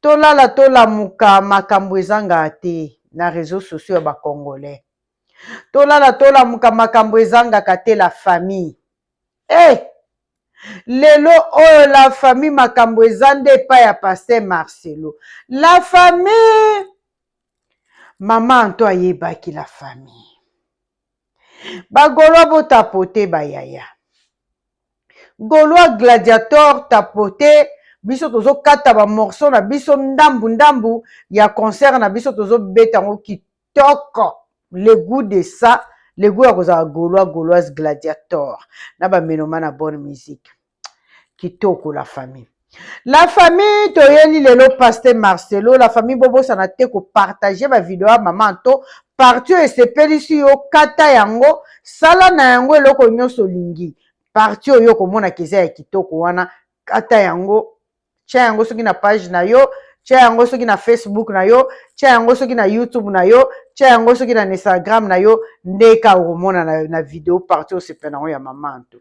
tolala tolamuka makambo ezanga te na reseau sociaux ya ba congolais tolala tolamuka makambo ezangaka te la famille e eh! hey! lelo oyo la famille makambo eza nde epai ya paster marcelo la famille mama anto ayebaki la famille bagolo botapote bayaya Golois gladiator tapote biso tozo kata ba morceau na biso ndambu ndambu ya concert na biso tozo beta yango kitoko le gout de ça le gout ya kozala golois goloise gladiator na ba meloma na bonne musique kitoko la famille. La famille toyeli lelo paste Marcelo la famille bobosana te kopartage bavideo ya mama Anto parti oyo esepelisi yo kata yango sala na yango eloko nyonso olingi parti oyo okomonaka eza ya kitoko wana kata yango tya yango soki na page na yo tya yango soki na facebook na yo tya yango soki na youtube na yo tya yango soki na instagram na yo ndeka okomona na, na video parti osepela yango ya mama Anto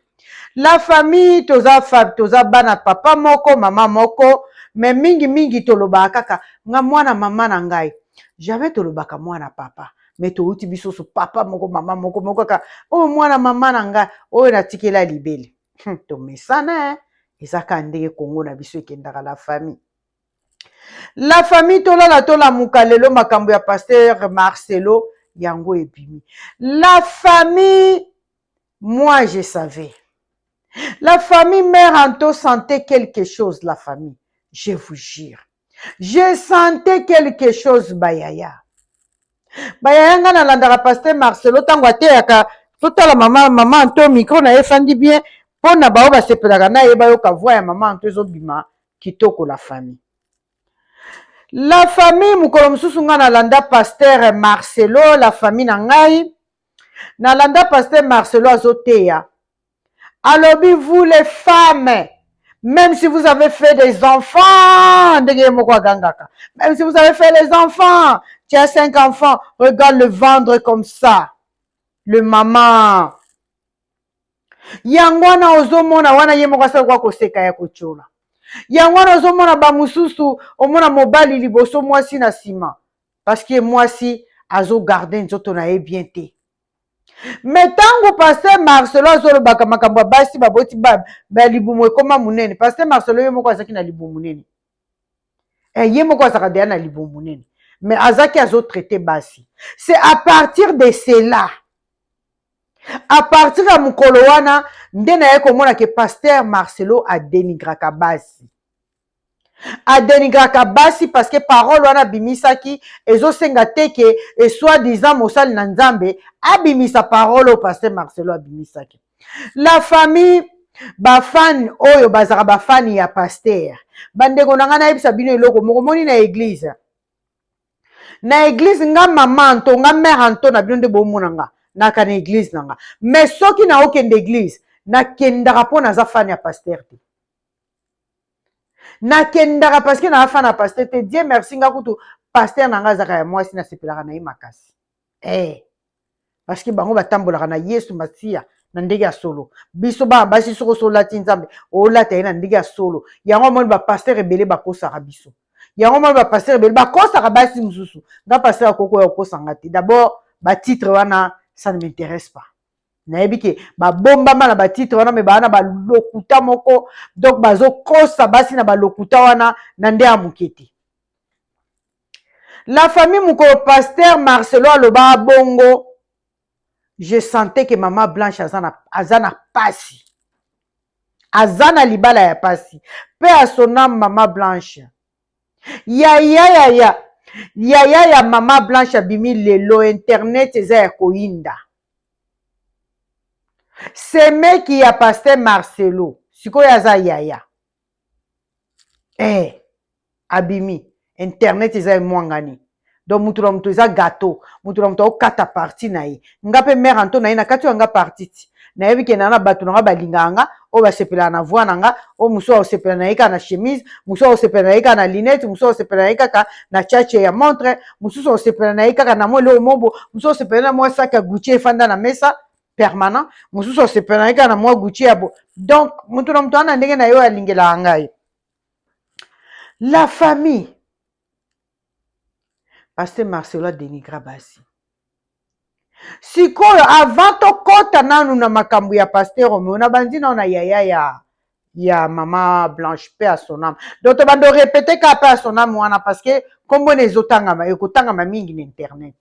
La famille toza fa toza bana papa moko mama moko mais mingi mingi tolobaka kaka nga mwana mama na ngai jamais tolobaka mwana papa mais towuti biso so papa moko mama moko moko kaka oyo mwana mama na ngai oyo natikela libele hmm, tomesana eh? eza kaka ndenge kongo na biso ekendaka la famille la famille tolala tolamuka lelo makambo ya pasteur marcelo yango ebimi la famille Moi je savais. La famille mère Anto sentait quelque chose la famille. Je vous jure. Je sentais quelque chose bayaya. Bayaya nga nalandaka pasteur Marcelo tango ateyaka totala mama mama Anto micro na ye efandi bien mpo na baoyo basepelaka na ye bayoka voix ya mama Anto ezobima kitoko la famille. La famille mokolo mosusu nga nalanda pasteur Marcelo la famille na ngai nalanda pasteur marcelo azoteya alobi vous les femmes même si vous avez fait des enfants ndenge ye moko agangaka même si vous avez fait les enfants tu as cinq enfants regarde le vendre comme ça le maman yango wana ozomona wana ye moko asala kwa koseka ya kotyola yango wana ozomona bamosusu omona mobali liboso mwasi na nsima parce que mwasi azo garde nzoto na ye bien te me ntango paster marcelo azolobaka makambo ya basi baboti balibumu ekoma monene paster marcelo ye moko azalaki na libumu monene eh, ye moko azalaka deya na libumu monene me azalaki azotraite basi c'est à partir de cela à partir ya mokolo wana nde naye komona ke paster marcelo adenigraka basi adenigraka basi parce que parole wana abimisaki ezosenga te ke esoi disant mosali na nzambe abimisa parole oyo paster marcelo abimisaki la famille bafane oyo bazalaka bafane ya paster bandeko na ngai nayebisa bino eloko moko moni na eglize na eglize nga mama anto nga mare anto na bino nde bomona nga naka na eglize na nga mais soki naokende eglize nakendaka mpo naza fane ya paster te nakendaka paske na afa na paster te die merci nga kutu paster na nga azaka ya mwasi nasepelaka na ye makasi hey. Eh. parceke bango batambolaka na yesu masiya na ndenge ya solo biso bana basi soki osi olati nzambe olata ye na ndenge ya solo yango amoni bapaster ebele bakosaka biso yango amoni bapaster ebele bakosaka basi mosusu nga paster akoki oya kokosa nga te dabord batitre wana ça ne m'intéresse pas nayebi ke babombama na batitre wana me baa na balokuta moko donc bazokosa basi na balokuta wana na nde ya moke te la famille mokolo paster marcelo aloba bongo je sentais ke mama blanche aza na, aza na pasi aza na libala ya pasi mpe asonam mama blanche yaya yaya yaya ya mama blanche abimi lelo internet eza ya koyinda semeki ya paster marcelo sikoyo aza yaya eh abimi internet eza emwangani donc moto na moto eza gateau moto na moto akokata parti na ye nga mpe mare anto na ye nakati oyo yanga parti ti nayebi ke naa na bato na nga balingaka nga oyo basepelaka na voi na nga oyo mosusu akosepela na ye kaka na chemise mosusu akosepela na ye kaka na linete mosusu akosepela na ye kaka na chache ya montre mosusu akosepela na ye kaka na mwa eloko mobo mosusu akosepela na mwa saki ya gutie efanda na mesa permanent mosusu akosepela na ye kaka na mwa gutie ya bo donc moto na moto wana ndenge na ye oyo alingelaka ngai la famille Pasteur Marcelo adenigra basi. Sikoyo avant tokota nanu na makambo ya Pasteur Romeo, nabanzi nao na yaya ya ya mama Blanche pe à son âme. Donc tobando répéter ka pe à son âme wana parce que kombo na ezotangama ekotangama mingi na internet.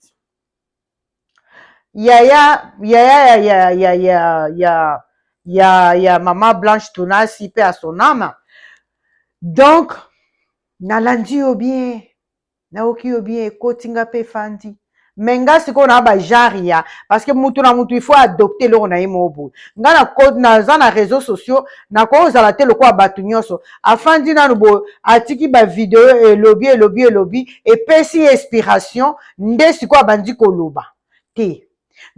yaya yaya ya ya ya ya ya ya ya mama blanche tunasi pe a son ame donc nalandi yo bien nayoki yo bien ekoti nga pe efandi me nga sikoyo na ba genre ya parce que mutu na mutu il faut adopte eloko na ye moko boye nga naza na réseau sociaux nakoki kozala te lokola bato nyonso afandi nano boye atiki bavideo elobi elobi elobi epesi ye inspiration nde sikoyo abandi koloba te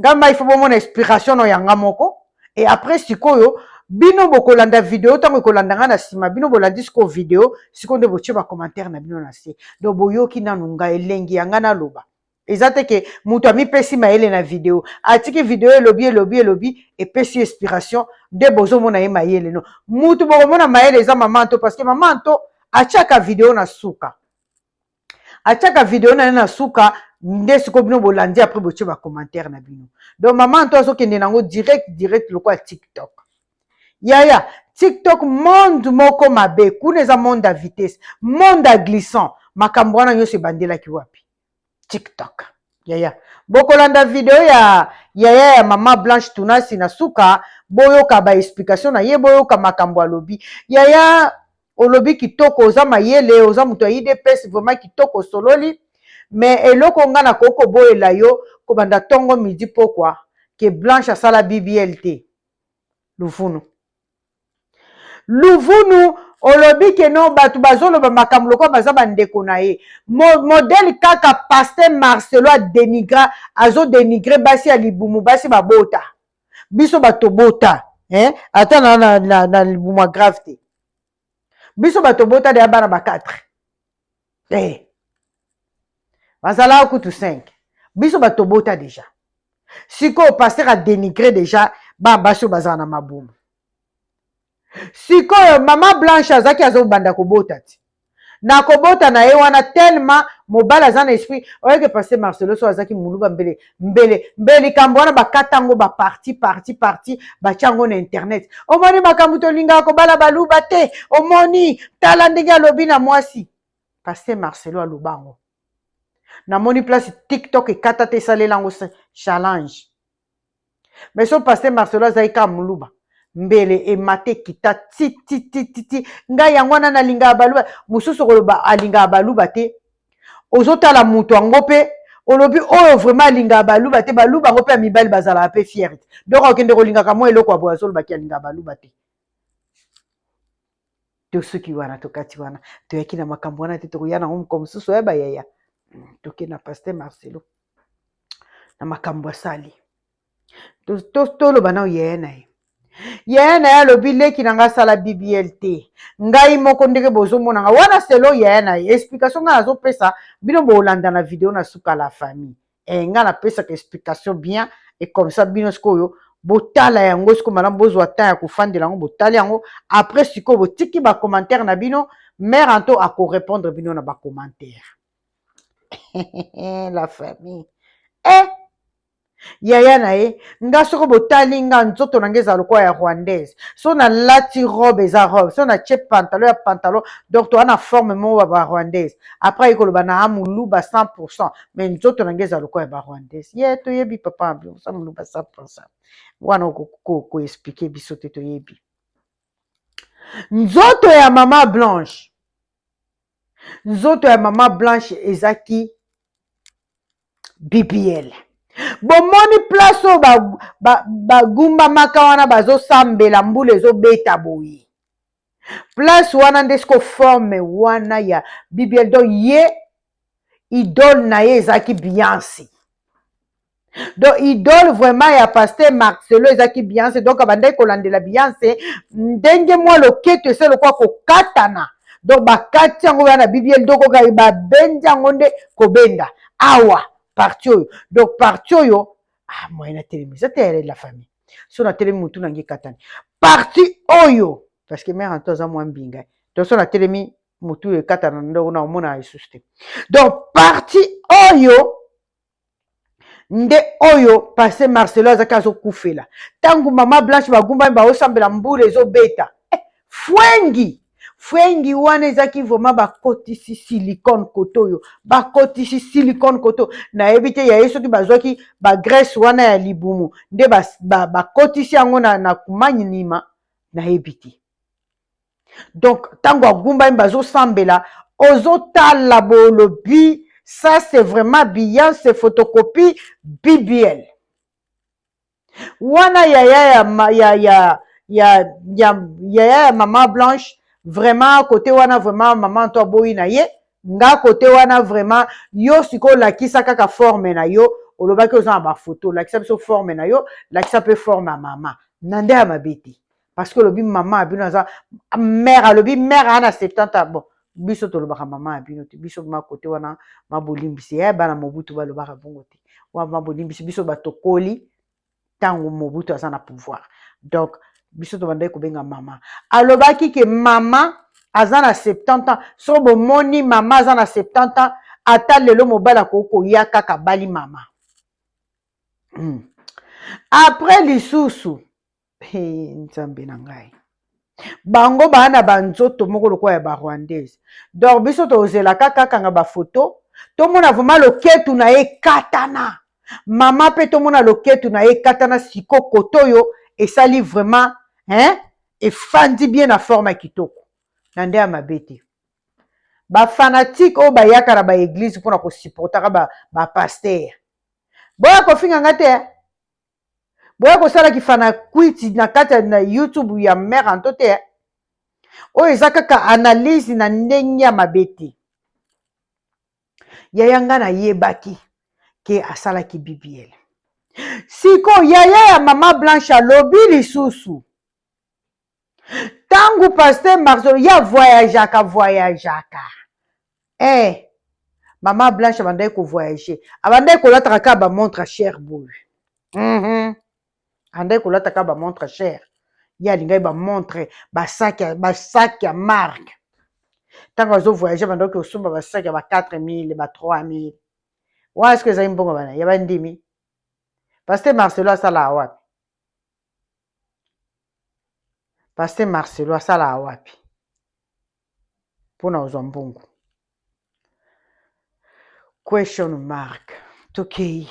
nga mai fo bomona inspiration no yanga moko e après sikoyo bino bokolanda video ntango ekolanda ngai na nsima bino bolandi sikoyo video sikoyo nde botie bacommentaire na bino na se donc boyoki nanu ngai elengi ya ngai naloba eza te ke moto amipesi mayele na video atiki video elobi elobi elobi epesi inspiration nde bozomona ye mayele no moto bokomona mayele eza mama nto parce que mama nto atiaka video na suka atiaka video na ye na suka nde sikoyo bino bolandi apres botie bacommentaire na bino donc mama nto azokende nango direct direct lokola tiktok yaya tiktok monde moko mabe kuna eza monde ya vitesse monde ya glissant makambo wana nyonso ebandelaki wapi tiktok yaya bokolanda video ya yaya ya mama blanche tunasi na suka boyoka baexplication na ye boyoka makambo alobi yaya olobi kitoko oza mayele oza moto ya idps vraiment kitoko osololi mais eloko nga nakoki koboyela yo kobanda tongo midi pokwa ke blanche asala bbl te luvunu luvunu olobi ke no bato bazoloba makambo lokola baza bandeko na ye Mo, modele kaka paster marcelo adenigra azodenigre basi ya libumu basi babota biso bato bota eh? ata na, na, na, na libumwa grave te biso bato bota deya bana ba 4 eh. bazalaka kutu 5 biso bato bota deja sikoyo paster adenigre deja bana basi oyo bazala na mabumu sikoyo mama blanche azaki azobanda kobota ti na kobota na ye wana telema mobali aza na esprit oyeke paste marcelo so azaki muluba mbele mbele mbele likambo wana bakata yango baparti parti parti batya yango na internet omoni makambo tolingaka kobala baluba te omoni tala ndenge alobi na mwasi paste marcelo aloba yango namoni place tiktok ekata te esalela yango challenge mais so pasteur marcelo azalaki kaka moluba mbele emata ekita tititititi ngai yango wana nalingaka baluba mosusu okoloba alingaka baluba te ozotala moto yango mpe olobi oyo vraiment alingaka baluba te baluba yango mpe ya mibali bazalaka mpe fiere te donc akende kolingaka mwa eloko ya boye azolobaki alingaka baluba te tosuki wana tokati wana toyaki na makambo wana te tokoya nango mokolo mosusu oya bayaya hmm, toke na paster marcelo na makambo asali toloba nao yaya na ye yaya na ye alobi leki na ngai asala bbl te ngai moko ndenge bozomona ngai wana selo yaya na ye explication ngai nazopesa bino bolanda na video na suka la famille eh nga na pesaka explication bien et comme ça bino sikoyo botala yango sikoyo malamu bozwa temps ya kofandela yango botali yango après sikoyo botiki ba commentaire na bino mère anto ako répondre bino na ba commentaire la famille eh yaya na ye nga soko botali nga nzoto na nga ezala lokola ya rwandaise so nalati robe eza robe so natye pantalon ya pantalon donc toa na forme moko ba rwandaise après aye koloba na amuluba 100 mais nzoto na ngai ezala lokola ya barwandais ye yeah, toyebi papa oza moluba sa mposa wana koexplike ko, ko biso te toyebi nzoto ya mama blanche nzoto ya mama blanche ezaki bbl bomoni place oyo bagumbamaka ba, ba wana bazosambela mbula ezobeta boye place wana nde siko forme wana ya bibiel donc ye idole na ye ezalaki biansi donc idole vraiment ya paster marcelo ezalaki bianse donc abandaki kolandela bianse ndenge mwa loketo ese lokola kokatana donc bakati yango wana bibiel donc okai babendi yango nde kobenda awa parti oyo donc parti oyo ah moyen atelemisa te yare la famille so natelemi motu na ngai ekatani parti oyo parce que mère anto aza mwa mbinga donc so natelemi motu ekatana na ndoko na omona lisusu te donc parti oyo nde oyo passe marcelo azalaki azokufela ntango mama blanche bagumbami baosambela mbula ezobeta eh, fwengi fwengi wana ezaki vraiment bakotisi silicone koto oyo bakotisi silicone koto nayebi te ya ye soki bazwaki bagrece wana ya libumu nde bakotisi ba, ba yango na, na kumani nima nayebi te donc ntango agumbami bazosambela ozotala bolobi ça c'est vraiment biyance photocopie bbl wana yaya ya, ya, ya, ya, ya, yaya ya mama blanche vraiment kote wana vraiment mama nto aboyi na ye nga kote wana vraiment yo sikoyo lakisa kaka forme na yo olobaki oza na bafoto lakisa biso forme na yo lakisa mpe forme ya mama na nde ya mabe te parce que olobi mama ya bino aza mère alobi mère ana 70 ans bon biso tolobaka mama ya bino te biso ma kote wana mabolimbisi ya eh, bana mobutu balobaka bongo te wana mabolimbisi biso batokoli ntango mobutu aza na pouvoir donc biso tobandaki kobenga mama alobaki ke mama aza na 70 ans so bomoni mama aza na 70 ans ata lelo mobali akoki koya kaka bali mama hmm. après lisusu Hey, nzambe na ngai bango baa na banzoto moko lokola ya barwandaise donc biso tozelaka kakanga bafoto tomona vraimen loketu na ye katana mama mpe tomona loketu na ye katana siko koto oyo esali vraimen hein efandi bien na forme ya kitoko na nde ya mabe te bafanatike oyo bayaka na baeglize mpona kosupportaka bapastere ba boya kofinga nga te boya kosala kifanakwiti na kati ya na youtube ya mare anto te eh. oyo eza kaka analyse na ndenge ya mabe te yaya ngai nayebaki ke asalaki bbl siko yaya ya mama blanche alobi lisusu ntango paster marcelo ye avoyageaka voyageaka eh, mama blanche abandaki kovoyage abandaki kolataka kaka bamontre chere boye mm -hmm. abandaki kolata kaka bamontre chere ye alingaki bamontre basaki ya marke ntango azovoyage abandaki kosomba basaki ya ba 4000 ba 3000 wana soki ezali mbongo bana ya bandimi paster marcelo asala wapi Pasteur Marcelo asalaka wapi mpona kozwa mbongo? Question mark. Tokei.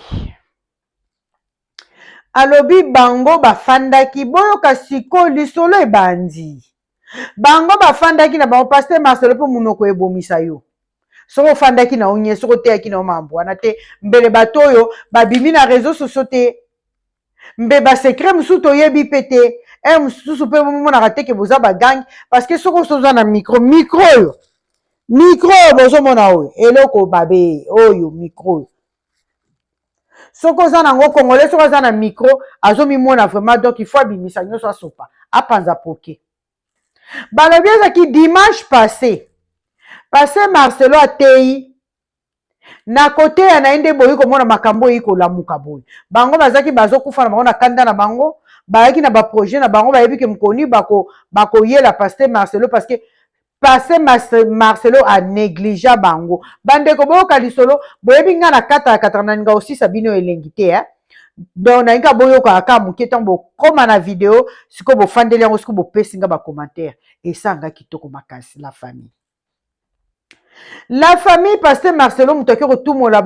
Alobi bango bafandaki boyoka siko lisolo ebandi. bango bafandaki na bango paster marcelo mpo monoko ebomisa yo soki ofandaki na yo nye soki oteyaki na yo mambo wana te mbele bato oyo babimi na réseau socio te mbe basekre mosusu toyebi mpe te e mosusu mpe bomonaka te ke boza bagange parce que soki osoza na micro micro oyo micro oyo bozomona oyo eloko babe oyo micro oyo soki oza nango congolais soki aza na micro azomimona vraiment donc il faut abimisa nyonso asopa apanza poke balobi ezaki dimanche passé passé marcelo ateyi na koteya na ye nde boyi komona makambo oyo ekolamuka boye bango bazalaki bazokufa na bango na kanda na bango bayaki na baprojet na bango bayebi ke mokoni bakoyela bako paster marcelo parce que passe marcelo a negligea bango bandeko boyoka lisolo boyebi ngai na kata ya kataka nalinga kosisa bino elengi te eh? donc nalingi kaka boyokaka kaka moke ntango bokoma na video sikoyo bofandeli yango sikoyo bopesi ngai bacommentaire esala ngai kitoko makasi la famille la famille paster marcelo moto ake kotumola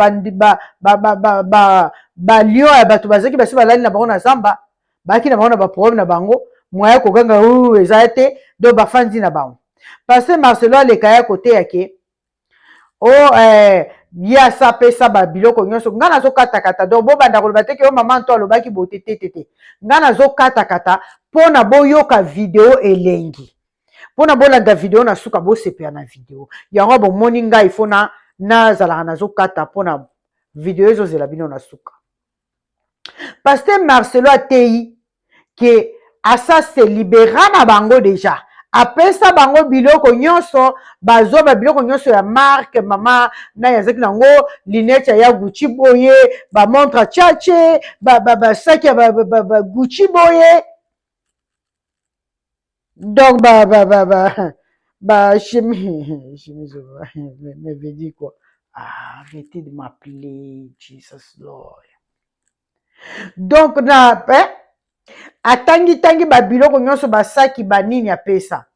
balion ya bato bazalaki basi balali na bango na zamba baki na bango na baproblème na bango mwaya koganga oyo eza te donc bafandi na bango paster marcelo aleka ya koteya ke o oh, eh, ye asapesa babiloko nyonso ngai nazokata-kata donc bobanda koloba te ke yo mama nto alobaki bote te te te ngai nazokata-kata mpo na boyoka video elengi mpo na bolanda video na suka bosepela na video yango bomoni ngai ifo na nazalaka nazokata mpo na video ezozela bino na suka Pasteur Marcelo ateyi que asa se libera na bango deja apesa bango biloko nyonso bazwa ba biloko nyonso ya marque mama naye azalaki na yango linete ya ya gucci boye bamontre chache basaki ya ba, ba, ba, ba gucci boye donc ba ba ba ba ba chimie chimie je me veux dire quoi ah arrêtez de m'appeler Jesus Lord donc na eh, atangi tangi ba biloko nyonso basaki banini apesa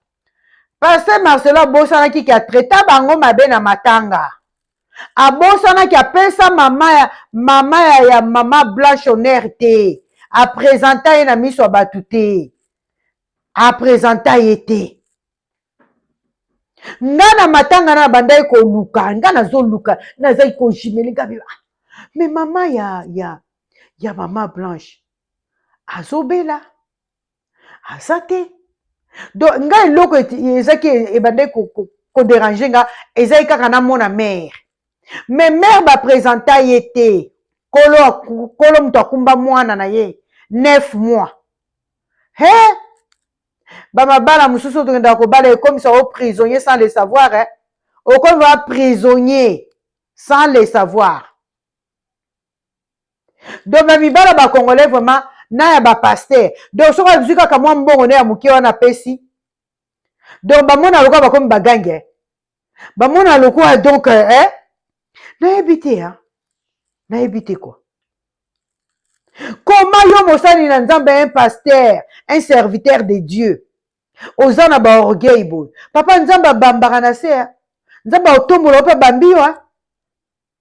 Pasteur Marcelo abosanaki ke atraita bango mabe na matanga. abosanaki apesa mama ya mama ya, ya mama blanche honere te apresenta ye na miso ya bato te apresenta ye te nga na matanga na bandaki koluka nga nazoluka nazaki kojimeli nga biba ah, me mama ya ya ya mama blanche azobela aza te donc nga eloko ezaki ebandaki koderange nga ezali kaka namona mare me mare bapresenta ye te kolo kolo moto akumba mwana na ye neuf mois he bamabala mosusu tokendaka kobala ekomisa o prisonnier sans le savoir eh? okomi ba prisonnier sans le savoir donc ba mibala ba congolais vraiment na ya ba pasteur donc soki azwi kaka mwa mbongo ne ya moke wana apesi donc bamona lokola bakomi bagange bamona lokola donc eh, eh? nayebi te ya nayebi te kua koma yo mosali na nzambe un pasteur un serviteur de dieu oza na baorgueil boye papa nzambe abambaka na se nzambe aotombola yo mpe abambi yo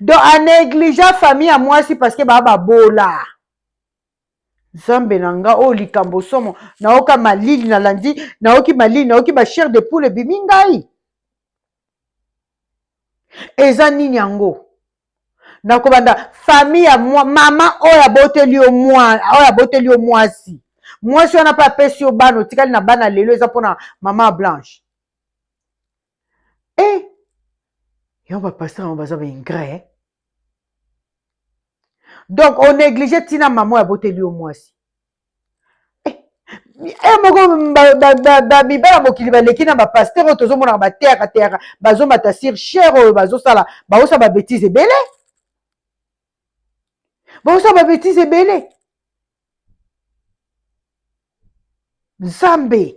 donc a negligea famille ya mwasi parce que baa babola nzambe na nga oyo likambo somo naoka malili nalandi naoki malili naoki ba chair de poule ebimi ngai eza nini yango nakobanda famille ya mwa, mama oyo aboteli yo mwa oyo aboteli yo mwasi mwasi wana mpe apesi yo bana otikali na bana lelo eza mpona mama blanche eh yo ba pasteur yango baza ba ingrat eh? donc onéglige ntina mama oyo aboteli yo mwasi eh, eh moko mibala mokili baleki na bapaster oyo tozomonaka bateyaka teyaka bazomata sur chere oyo bazosala baosa babetise ebele baosa babetise ebele nzambe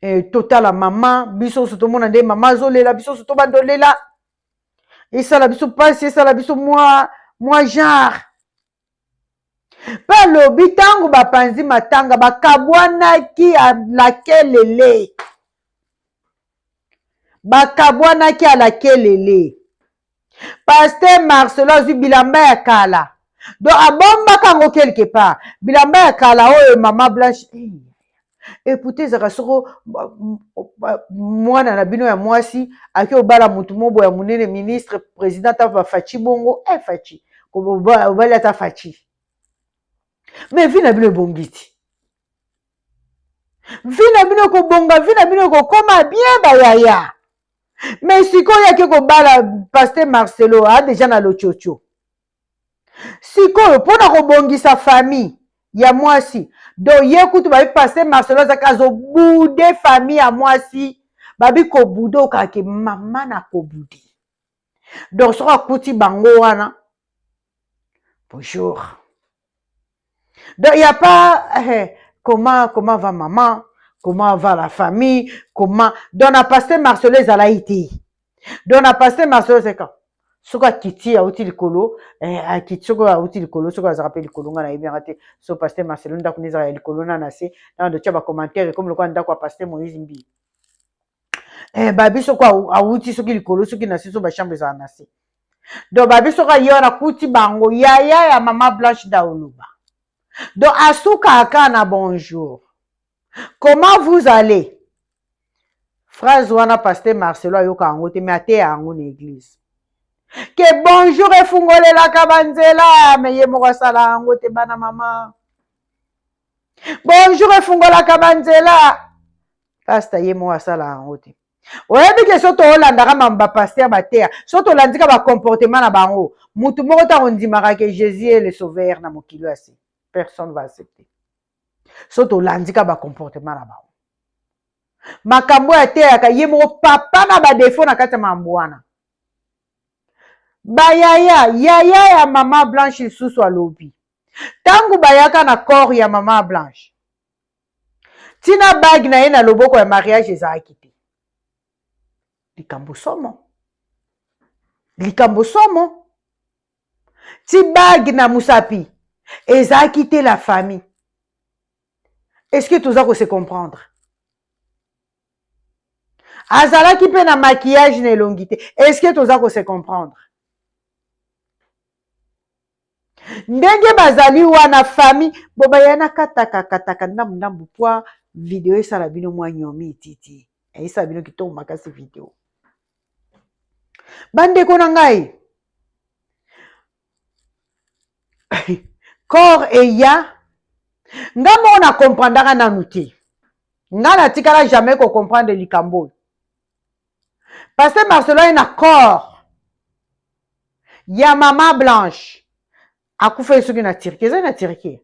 eh, totala mama biso nyonso tomona nde mama azolela biso nyonso tobanda olela esala biso mpasi esala biso mwa mwa genre mpe alobi ntango bapanzi matanga bakabwanaki alakelele bakabwanaki alakelele paster marcelo azwi bilamba ya kala donc abombaka yango quelque part bilamba ya kala oyo mama blanche eputa ezalaka soko mwana na bino ya mwasi ake obala motu mobo ya monene ministre president ata bafaci bongo e eh, faci obali ata faci mais vi na bino ebongi ti vi na bino ekobonga vi na bino ekokoma bien bayaya me sikoyo yake kobala paster marcelo a deja na lococo sikoyo mpo na kobongisa famille ya mwasi donc ye kutu babi paster marcelo azaki azobude famille ya mwasi babi kobude okake mama na kobude donc soki akuti bango wana bonjour donc ya pas eh, comment comment va maman comment va la famille comment donc na paster marcelo ezalaki te donc na paster marcelo seka soki akiti auti likolo eh, akiti soki auti likolo soki azalaka mpe likolo ngai nayebi yanga te so paster marcelo ndako nde ezalaka ya likolo na na se na bando tya bacommentaire ekomi lokola ndako ya paster moïse mbii eh, babi soko awuti soki likolo soki na se so bachambre ezala na se donc babi soko aye wana akuti bango yaya ya mama blanche daoluba donc asukaka kaka na bonjour comment vous allez phrase wana paster marcelo ayoka yango te mais ateya yango na eglise ke bonjour efungolelaka banzela me ye moko asala yango te bana mama bonjour efungolaka banzela pasta ye moko asalaka yango te oyebi ke so tolandaka mambo bapaster bateya so tolandika bacomportement na bango motu moko te akondimaka ke jésus ye le sauveur na mokili oyo asi personne va accepter so tolandika bacomportement na bango makambo oyo ateyaka ye moko papa na badefo na kati ya mambo wana bayaya yaya ya mama blanche lisusu alobi ntango bayaka na corps ya mama blanche tina bague na ye na loboko ya mariage ezalaki te likambo somo likambo somo ti bague na mosapi ezalaki te la famille est ce que toza kose comprendre azalaki mpe na maquillage na elongi te est ce que toza kose comprendre ndenge bazali wana fami bobaya na katakakataka ndambu ndambu pwa video esala bino mwa nyomi titi esala bino kitoko makasi video bandeko na ngai corps eya nga moko na comprendaka nanu te nga natikala jamais kocomprendre likambo oyo Pasteur Marcelo aye na corps ya mama Blanche akufaki soki na Turquie ezali na Turquie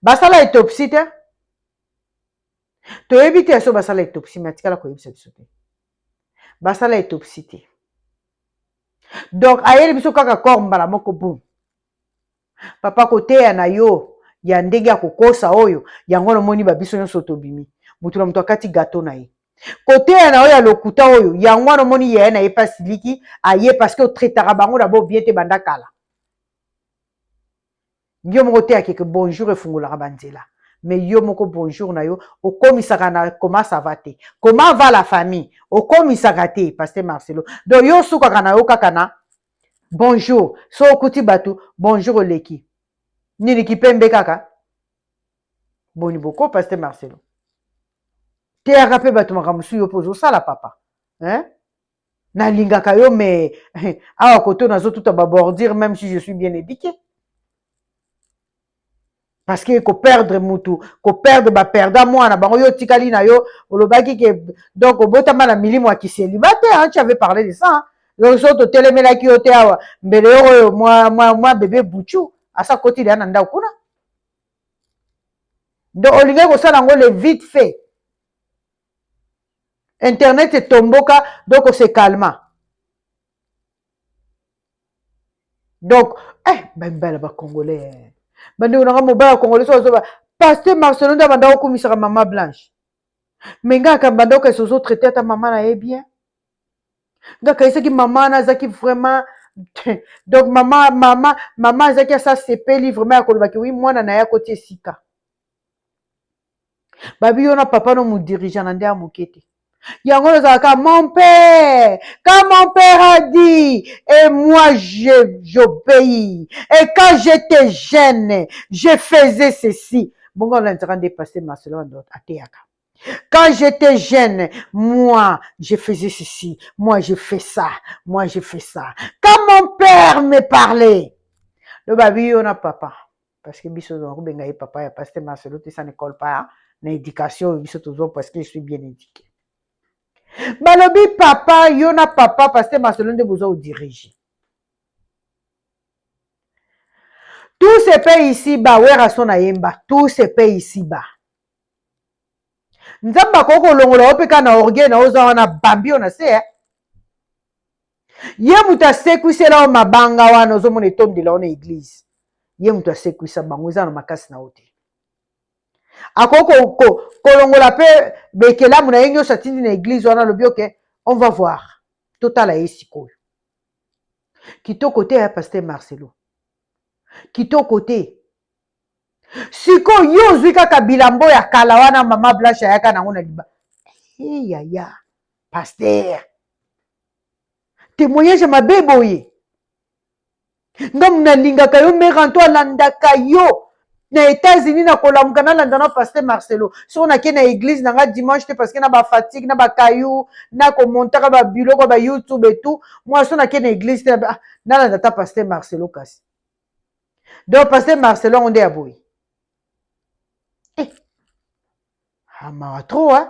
basala autopsie te toyebi te so basala autopsie me atikala koyebisa biso te basala autopsie te donc ayeli biso kaka corps mbala moko boum papa koteya na yo ya ndenge ya kokosa oyo yango wana omoni babiso nyonso tobimi motu na moto akati gato na ye koteya na yo ya lokuta oyo yango wana omoni yaya na ye mpe asiliki aye parceke otraitaka bango na bobien te banda kala yo moko oteya keke bonjour efungolaka banzela mais yo moko bonjour na yo okomisaka na koma sava te koma va la famille okomisaka te paster marcelo donc yo osukaka na yo kaka na Bonjour so okuti batu bonjour oleki nini kipembe kaka boni boko paste marcelo teyaka mpe bato makambo mosusu yo mpe ozosala papa hein? nalingaka yo me awa koto nazotuta babordure meme si je suis bien édiqué parce que ko perdre mutu ko perdre ba perdant mwana bango yo otikali na yo olobaki ke donc obotama na milimo ya kiseliba te hein, tu avais parlé de ça hein. donc so totelemelaki yo te awa mbele yo oyo mwa, mwa, mwa bebe buchu asa kotili ya na ndako kuna donc olingaki kosala yango le vite fait internet etomboka donc ose calma donc eh, bamibala bacongolais eh. bandeko nanga mobali ya congolais so azoba paster marcelo nde abanda kokumisaka mama blanche me ngai aka banda okasi ozo traite ata mama na ye bien ngai akaisaki mama wana azalaki vraiment donc mama mama mama azalaki asa sepeli vraiment ya kolobaki wi mwana na ye akoti esika babi yo na papa no modirija na nde ya moke te yango oyo ezalaka mon père quand mon père a dit et moi j'obéis et quand j'étais jeune je faisais ceci bongo olanzaka nde passe marcelo andot ateyaka Quand j'étais jeune, moi, je faisais ceci, moi, je fais ça, moi, je fais ça. Quand mon père me parlait, le baby, on a papa. parce que biso tozala kobenga ye papa ya paste marcelo te ça ne colle pas na éducation oyo biso tozwa parce que je suis bien éduqué balobi papa yo na papa paste marcelo nde boza odirige tout se paye ici ba werason ayemba tout se paye ici ba nzambe akoki kolongola yo mpe kaka na orgueil na oza wana bambi oyo na se eh? ye moto asekwisela yo mabanga wana ozomona etondela yo na eglize ye moto asekwisa bango eza na makasi na yo te akoki kolongola mpe bekelamu na ye nyonso atindi na eglize wana alobi oke on va voir totala ye sikoyo kitoko te ya paster marcelo kitoko te sikoyo yo ozwi kaka bilambo ya kala wana mama blanche ayaka nango na liba eyaya paster temoignage ya mabe boye nga nalingaka yo mère anto alandaka yo na états-unis nakolamuka nalanda na paster marcelo soko nake na église na nga dimanche te parce que na bafatigue na bakayu nakomontaka babiloko ya bayoutube etout mwa so nake na église te ah, nalanda ta paster marcelo kasi donc paster marcelo yango nde ya boye Ah, mawa trop hein?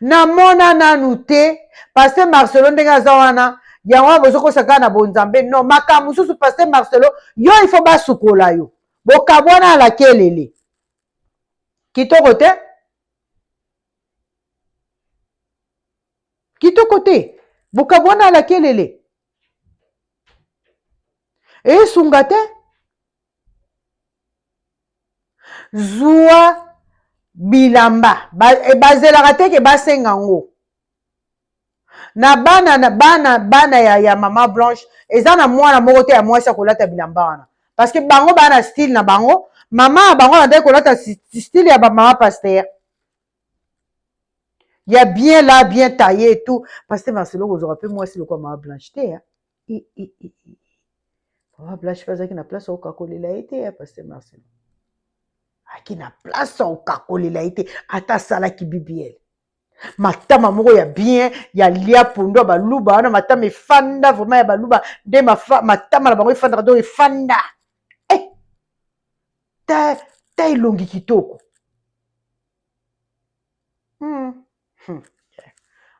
namona nanu te paste marcelo ndenge aza wana yango wana bozokosa kaka na bonzambe no makambo mosusu paste marcelo yo ifo basukola yo bokabwana ala kelele kitoko te kitoko te bokabwana ala kelele esunga te zua bilamba eh, bazelaka te ke basenga yango na bana na bana bana ya, ya mama blanche eza na mwana moko te ya mwasi akolata bilamba wana parce que bango baa na style na bango mama ya bango nandaki kolata style ya bamama paster ya bien la bien taille et tout paster marcelo kozwaka mpe mwasi lokola mama blanche te Vraiment, Blanche pe azalaki na place ya kokakolela ye te ya Pasteur Marcelo. Aki na place ya kokakolela ye te, ata asalaki BBL. matama moko ya bien ya lia pondo ya baluba wana matama efanda vraiment ya baluba nde matama na bango efandaka donc efanda eh! ta, ta elongi kitoko hmm. Hmm.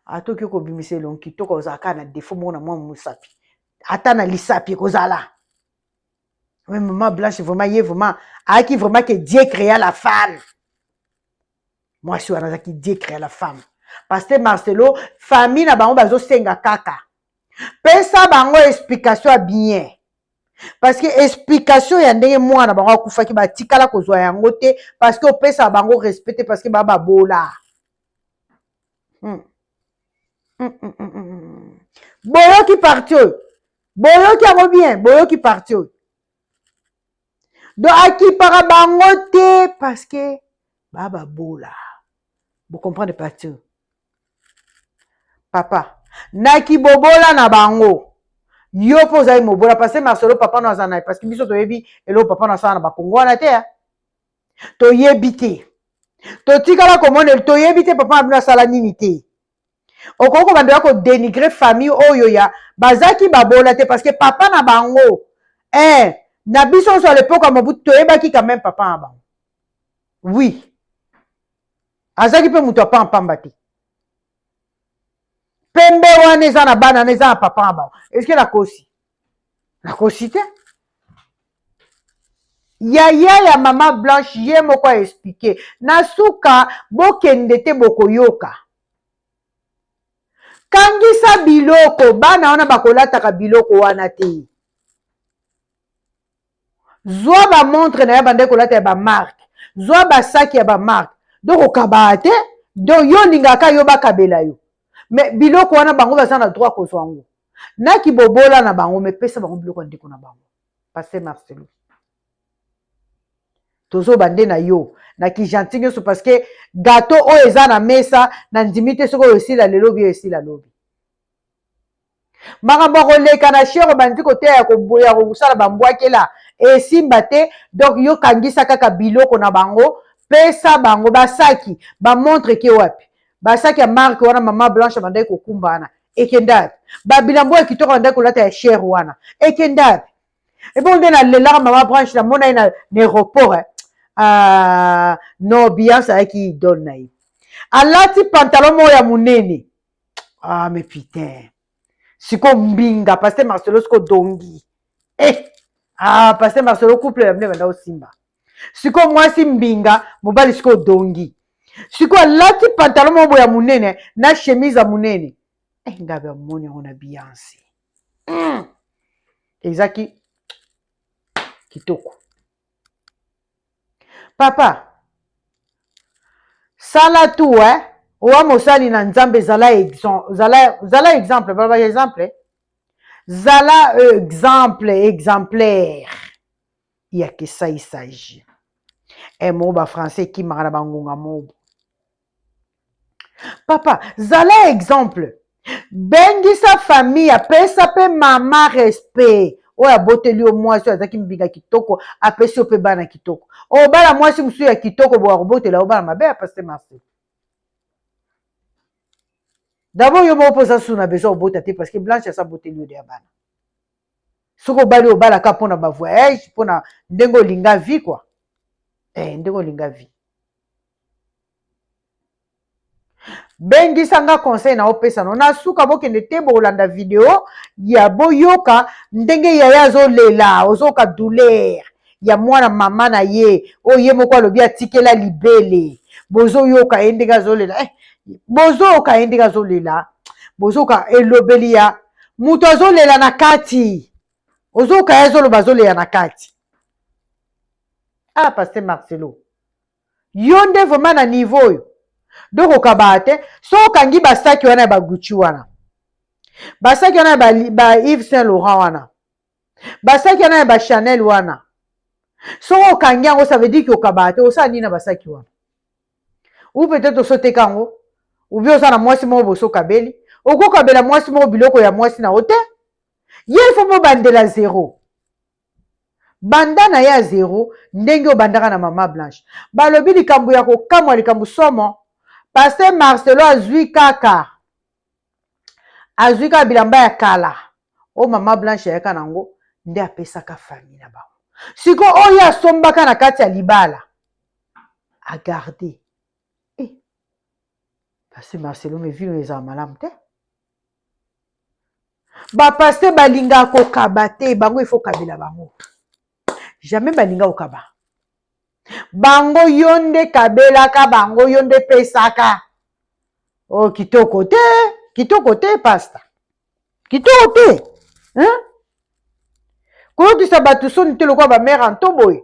Ata okoki kobimisa elongi kitoko ozala kaka na defo moko na mwa mosapi ata na lisapi ekozala mais mama blanche vraiment ye vraiment ayaki vraiment ke dieu créa la femme mwasi wana azalaki dieu créa la femme parce que marcelo famille na bango bazosenga kaka pesa bango explication ya bien parce que explication ya ndenge mwana bango akufaki batikala kozwa yango te parce que opesaka bango respect te parce que ba babola hmm. Hmm, hmm, boyoki parti oyo boyoki yango bien boyoki parti oyo do akipaka bango te parce que ba babola bocomprendre parti oyo papa na kibobola na bango yo mpe ozali mobola parce masolo papa no aza naye parce que biso toyebi eloko papa no asala na bakongo wana te toyebi te totikala komona toyebi te papa na bino asala nini te okoki kobandela kodenigre famille oyo ya bazalaki babola te parce que papa na bango eh, na biso nyonso ya lepoka mobutu toyebaki quand même papa na bango oui azalaki mpe moto ya pampamba te pembe wana eza na bana na eza na papa na bango eske nakosi nakosi te yaya ya mama blanche ye moko aexplike na suka bokende te bokoyoka kangisa biloko bana wana bakolataka biloko wana te zwa ba montre na ya banda kolata ya ba marque zwa ba sac ya ba marque donc okabaa te donc yo olingaka yo bakabela yo me biloko wana bango baza na droit kozwa yango na kibobola na bango me pesa bango biloko ya ndeko na bango paster marcelo tozoba nde na yo na kijanti nyonso parce que gato oyo eza na mesa na ndimi te soki oyo esila lelo bi oyo esila lobi makambo ya koleka na shere obandi koteya ya koboya kosala bambwakela esimba te donk yo kangisa kaka biloko na bango pesa bango basaki bamontre ke wapi basaki ya marke wana mama blanche abandaki kokumba wana ekenda wapi babilambo ya kitoko abandaki kolata ya shere wana ekenda wapi ebongo nde nalelaka mama blanche namona ye na aéroport eh. ah, no beyance ayaki idole na ye alati pantalon moko ya monene ah mais putain siko mbinga paster marcelo siko dongi eh ah paster marcelo couple ya bino ebanda osimba siko mwasi mbinga mobali siko dongi siko alati pantalon moko ya monene na chemise ya monene eh, ngabe amoni yango na bianse mm. ezaki kitoko papa sala tout eh? owa mosali na nzambe zala, zala, zala exemple baba exemple zala exemple exemplaire ya kesaisaji e eh, moo bafrançais ekimaka na bangonga mobo papa zala exemple bengisa famille apesa mpe mama respect oyo aboteli yo mwasi oyo azalaki mbinga kitoko apesi yo mpe bana kitoko obala mwasi mosusu ya kitoko boya kobotela yo bana mabe ya paste marsi dabord yo moko mpo oza susu na besoin obota te parce que blanche asa boteli yo deya bana soki obali obalaka mpo na bavoyage mpo na ndenge olinga vie kua eh, ndenge olinga vie bengisa nga conseil na opesa no na suka bokende te bokolanda video ya boyoka ndenge yaya azolela ozoyoka douleur ya mwana mama na ye oyo ye moko alobi atikela libele bozoyoka ye ndenge azolela eh, bozoyoka ye ndenge azolela bozoyoka elobeli ya moto azolela na kati ozoyoka ye azoloba azolela na kati ah paster marcelo yo nde vraiment na niveau oyo donc okabaa te so okangi basaki wana ya bagucci wana basaki wana ya ba, ba yves saint laurent wana basaki wana ya bachanel wana soki okangi yango ça veut dire ke okabaa te osala nini na basaki wana ou peut-être osoteka yango obi oza na mwasi moko bosokabeli okokabela mwasi moko biloko ya mwasi na yo te ye ifo bobandela zero banda na ye ya zero ndenge obandaka na mama blanche balobi likambo ya kokamwa likambo somo paster marcelo azwi kaka azwi kaka bilamba ya kala oyo mama blanche ayaka na yango nde apesaka fami na bango siko oyo asombaka na kati ya libala agarde eh. paster marcelo mevino ezala malamu te bapaste balingaka kokaba te bango ifo kabela bango jamais balinga kokaba bango yo nde kabelaka bango yo nde pesaka o oh, kitoko te kitoko te pasta kitoko te hein? koyokisa bato soni te lokola bamere anto boye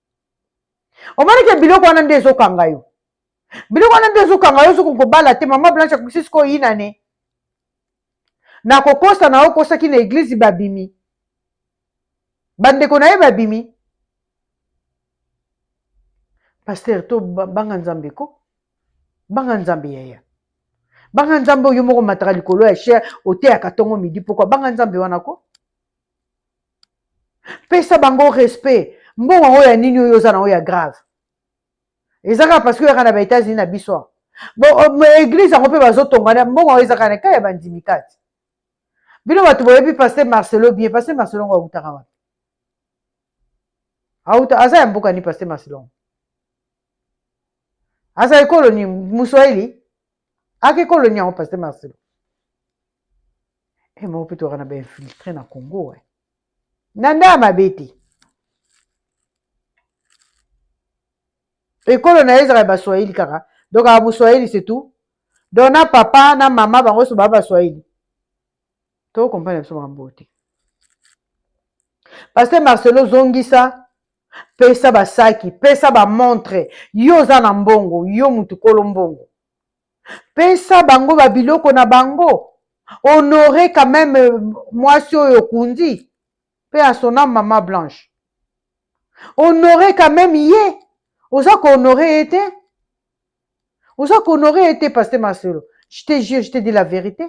omoni ke biloko wana nde ezokanga yo biloko wana nde ezokanga yo soki kobala te mama blanche akoki sikoyo oyina ne na kokosa na okosaki na eglize babimi bandeko na ye babimi paster to banga nzambe ko banga nzambe yaya banga nzambe oyo moko mataka likolo ya sher oteyaka ntongo midi pokwa banga nzambe wana ko pesa bango respect mbongo yango ya nini oyo oza na oyo ya grave eza kaka parce que oyaka na ba états-unis na biso bon euh, église yango mpe bazotongana mbongo yango eza kaka na ekai ya bandimi kati bino bato boyebi paster marcelo bien paster marcelo ngo awutaka wapi awuta aza ya mboka ni paster marcelo ngo aza ekolo ni muswahili aka ekolo ni yango paster marcelo e moko mpe tozalaka na bainfiltre na congo e na nda ya mabe te ekolo na ye ezalaka ya baswahili kaka donc aa moswahili setout donc na papa na mama bango nyonso baa baswahili tokokomprendre biso makambo oyo te paster marcelo zongisa pesa basaki pesa bamontre yo oza na mbongo yo motu kolo mbongo pesa bango ba biloko na bango honore quand même euh, mwasi oyo okundi pe à son âme mama blanche honore quand même ye oza kohonore ye te oza kohonore ye te paste masolo je te jure je te dis la vérité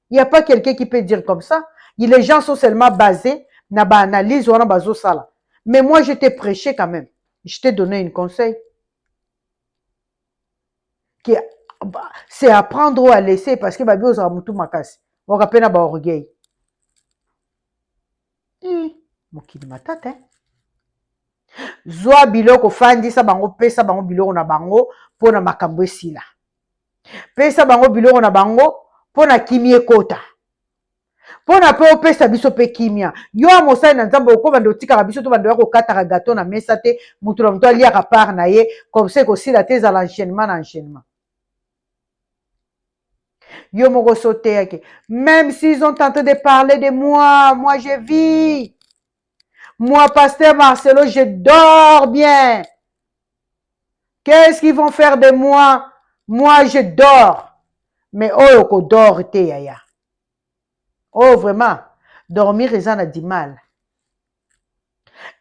il y a pas quelqu'un qui peut dire comme ça Il- les gens sont seulement basés na baanalyse wana bazosala mais moi je te prêché quand même je te donné une conseil que c'est à prendre ou à laisser parce que babi ozala mutu makasi oka pe na ba orgueil hmm, mokili matata hein? zwa biloko fandisa bango pesa bango biloko na bango mpo na makambo esila pesa bango biloko na bango mpo na kimi ekota mpo na mpe opesa biso mpe kimia. Yo ya mosali na Nzambe okobanda otikaka biso tobanda ya kokataka gato na mesa te, moto na moto aliaka part na ye, comme ça ekosila te ezala enchaînement na enchaînement. Yo moko so oteyaki, même s'ils ont tenté de parler de moi, moi je vis. Moi, pasteur Marcelo, je dors bien. Qu'est-ce qu'ils vont faire de moi? Moi, je dors. Mais oyo kodor te yaya. Oh vraiment dormir eza na dimal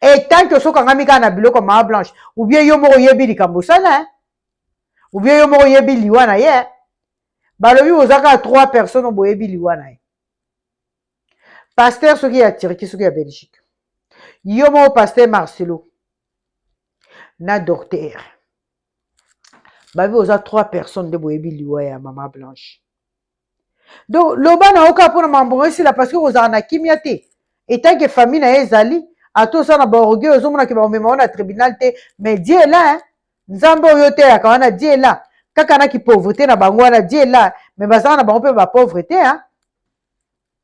et tant que soki angami kaka na biloko maa blanche ou bien yo moko oyebi likambo osala eh? ou bien yo moko oyebi liwa na ye eh? balobi boza kaka trois personnes boyebi liwa na ye paster soki ya turquie soki ya belgique yo moko paster marcelo na docteur babi boza trois personnes nde boyebi liwa ya mama blanche donc loba na yo kaka mpo na mambo ngo esila parce que kozala na kimia te etant que famille na ye ezali ata oza na baorgueil ozomona ke bakomema yo na tribunal te mais die est là hein? nzambe oyo oteyaka wana die est là kaka na kipauvreté na bango wana die est là mais bazala na bango mpe bapauvre te hein?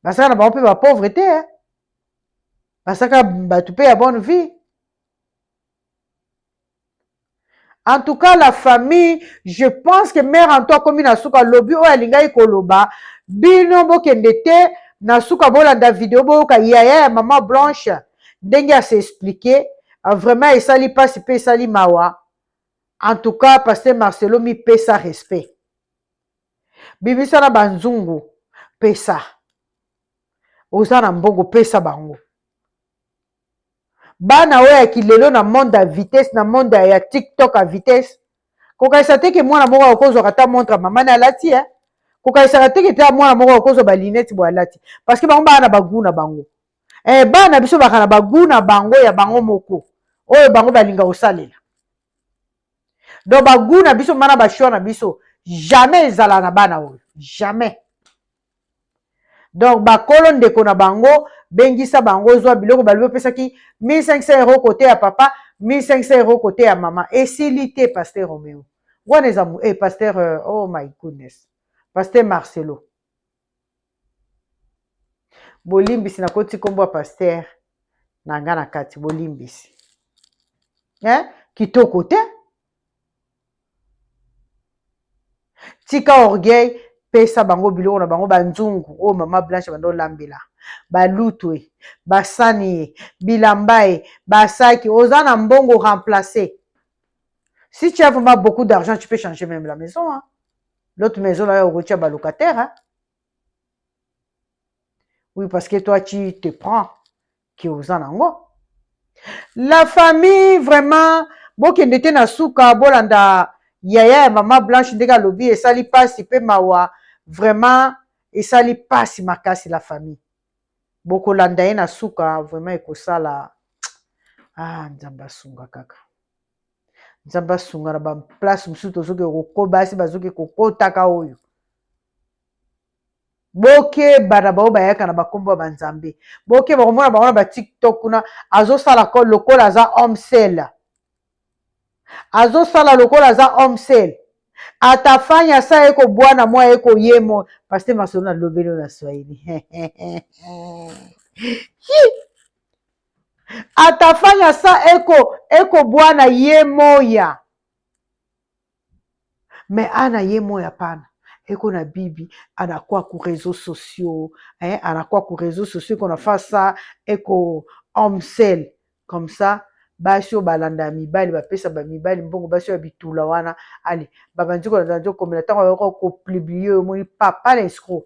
bazala na bango mpe bapauvre te hein? basaka bato mpe ya bonne vie en tout cas la famille je pense que mère anto akomi na suka lobi oyo alingaki koloba bino bokende te na suka bolanda video boyoka yaya ya mama blanche ndenge ase explike ah, vraiment esali mpasi mpe esali mawa en tout cas paster marcelo mipesa respect bimisa na banzungu pesa oza na mbongo pesa bango bana oyo ya kilelo na monde ya vitesse na monde ya tiktok ya vitesse kokanisa te ke mwana moko akozwaka ata montre mama na alati ya eh? kokanisaka te ke te mwana moko akozwa balinete boye alati parce que bango baa na bagu na bango eh, bana na biso baka na bagu na bango ya bango moko oyo bango balinga kosalela donc bagu na biso mana bashwa na biso jamais ezala na bana oyo jamais donc bakolo ndeko na bango bengisa bango ozwa biloko balobi opesaki 1500 euro kote ya papa 1500 euro kote ya mama esili te paster romeo wana eza e eh, paster euh, oh my goodness paster marcelo bolimbisi nakoti nkombo ya paster na nga na kati bolimbisi eh? kitoko te tika orgueil pesa bango biloko na bango banzungu oyo mama blanche banda olambela balutu e basani e bilamba e basaki oza na mbongo remplace si tu as vraiment beaucoup d'argent tu peux changer même la maison hein? l'autre maison là okotia balocataire hein? oui parce que toi tu te prends ke oza nango la famille vraiment bokende te na suka bolanda yaya ya mama blanche ndenge alobi esali pasi pe mawa vraiment esali pasi makasi la famille bokolanda ye na suka vraiment ekosala ah nzambe asunga kaka nzambe asunga na baplace mosusu tozoki kokoba asi bazoki kokotaka oyo bokeba na bango bayaka na bakombo ya banzambe bokeba komona bango na batiktok kuna azosala lokola aza homsel azosala lokola aza homsel ata fani asa ye kobwana mwa ye koyemo paste masolo na lobelo na swahili ata fani asa eko ekobwana ye moya Mais ana ye moi apana eko na bibi ana kwa ku reseau sociaux eh ana kwa ku reseau sociaux eko na fasa eko homme sel comme ça basi oyo balanda ya mibali bapesa ba mibali mbongo basi oyo ya bitula wana ale babandi kolanda nzokomela ntango yoko kopublie omoni papa na escro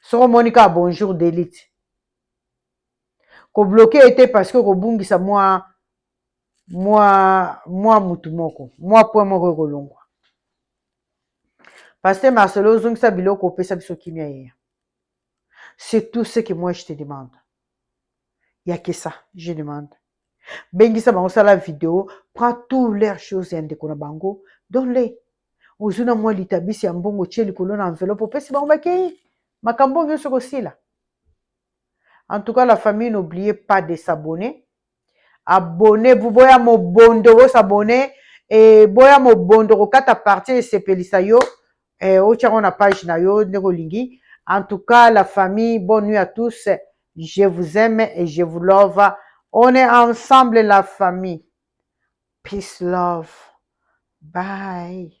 soki omoni kaka bonjour delite kobloke ye te parce que okobungisa mwa mwa mwa mutu moko mwa point moko ekolongwa paster marcelo ozongisa biloko opesa biso kimia yeya c'est tout ce que moi je te demande ya kesa je demande bengisa bango sala video prend tout leur chose ya ndeko na bango donle ozwi na mwa litabisi ya mbongo tie likolo na enveloppe opesi bango bakei makambo oyo nyonso kosila en tout cas la famille n'oubliez pas de s'abonner abonne vous boya mobondo bosabonne e boya mobondo kokata partie esepelisa yo eh, otya ngo na page na yo ndenge olingi en tout cas la famille bonne nuit à tous je vous aime et je vous love on est ensemble la famille peace love bye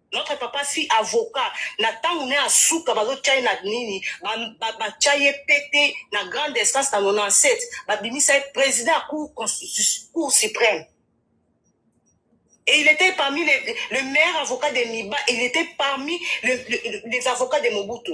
Notre papa si avocat na tango ne asuka bazotia ye na nini batia ye pete na grande instance na 97 babimisa ye président ya cour constitution cour suprême Et il était parmi les, le meilleur avocat de Miba, il était parmi le, le, les avocats de Mobutu.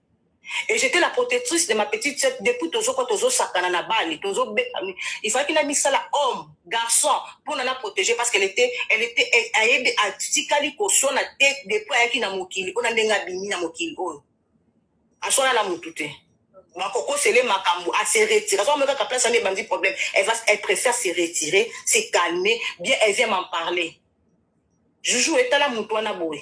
et j'étais la protectrice de ma petite sœur depuis tozo ko tozo sakana na bali tozo il fallait na misala homme garçon pour na protéger parce qu'elle était elle était ayebi atikali ko sona te depuis ayaki na mokili ona ndenga bimi na mokili oyo asona na mutu te bakoko sele makambo à se retirer azo meka ka place ami bandi problème elle va elle préfère se retirer se calmer bien elle vient m'en parler juju etala mutu wana boye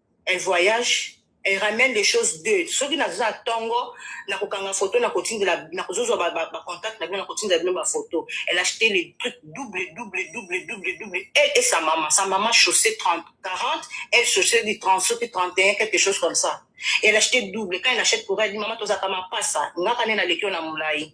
un voyage elle ramène les choses deux soki naza tongo na kokanga photo na kotindela na kozozwa ba, ba, ba contact na bino na kotindela bino ba photo elle acheté les trucs double double double double double elle et sa maman sa maman chaussée 30 40 elle chaussée du 30 soki 31 quelque chose comme ça elle acheté double quand elle achète pour elle dit maman tozaka mapasa ngaka nde naleki yo na molai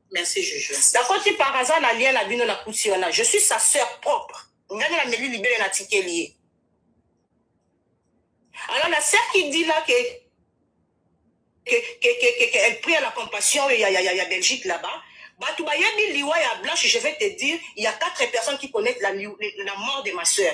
Merci Juju. Nakoti par hasard na lien na bino na kuti wana. Je suis sa sœur propre. Ngani na meli libele na tikeli ye. Alors la sœur qui dit là que que que que, que, que elle prie à la compassion il y a il y a, il y a Belgique là-bas. Batu bayebi liwa ya Blanche, je vais te dire, il y a quatre personnes qui connaissent la, la mort de ma sœur.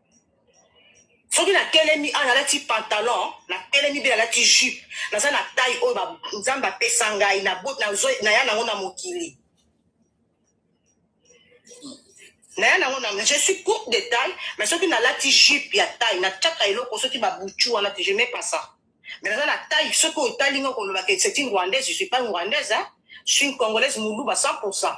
soki natelemi awa nalati pantalon natelemi mpe nalati jupe naza na tai oyo nzambe apesa ngai naya nango na mokili naya nango na je suis courte de taille mais soki nalati jupe ya taille natiaka eloko soki babuchu wana te je mets pas ça mais naza na taille soki otali nga kolobaka c'est une rwandaise je suis pas une rwandaise hein? je suis une congolaise muluba 100 pourcent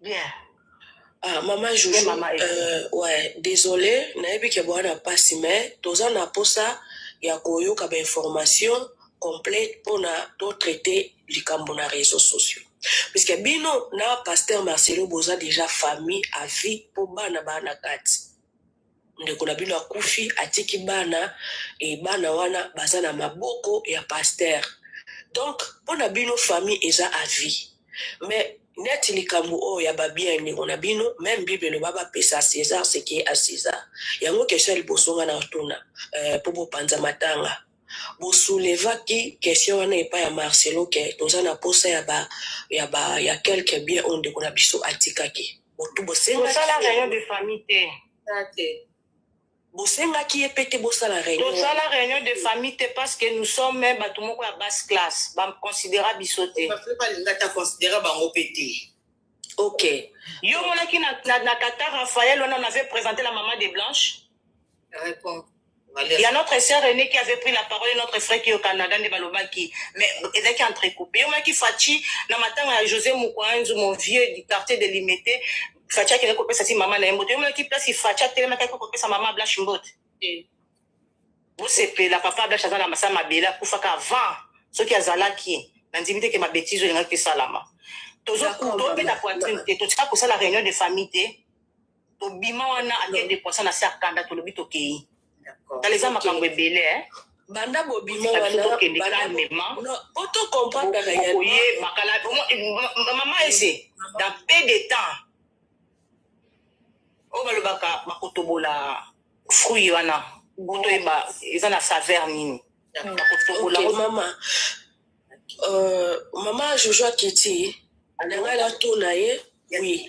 bien ah, mama juju mama euh, ouais désolé nayebi ke boa na mpasi mais toza na mposa ya koyoka bainformation complète mpona totraite likambo na réseau sociaux puisque bino na pasteur marcelo boza déjà famille à vie mpo bana baa na kati ndeko na bino akufi atiki bana e bana wana baza na maboko ya pasteur donc mpo na bino famille eza avis mais neti likambo oyo ya babien ndeko na bino meme bible eloba bapesa césar seke a césar yango question ya liboso nga na otuna eh, mpo bopanza matanga Bo soulevaki question wana epai ya Marcelo que toza na posa ya ba ya ba ya quelques biens oyo ndeko na biso atikaki. Bo tout bo sengaki. Tosala reunion de famille te. Tosala te. Bo sengaki ye pe te bo sala reunion. Tosala reunion de famille te parce que nous sommes batu moko ya basse classe. Ba considera biso te. Ba pe ba linga ata considera bango pe te. Ok. Yo omonaki na na Qatar Raphaël wana on avait presente la maman de Blanche? Reponds. ya notre sœur René qui avait pris la parole et notre frère qui est au Canada nde balobaki mais ezalaki entrecoupe eyomaki Fatshi na matanga ya José Mukwanzu mon vieux du quartier de Limete Fatshi akende kopesa ti mama na ye mbote eyomaki place Fatshi atelemaki akende kopesa mama Blanche mbote eh. bosepela papa Blanche aza na masa mabele akufaka avant soki azalaki nandimi te ke mabetizo elingaki esalama tozobeta poitrine te totika kosala réunion de famille te tobima wana ake depoisa na se ya kanda tolobi tokei tala eza makambo ebele eh. banda bobima wanaoyebamama ese dans pe de temps oyo balobaka bakotobola fruit wana buto yeba eza na saveur nini bakotobola mama euh, mama jojo akiti nanga na to na ye oui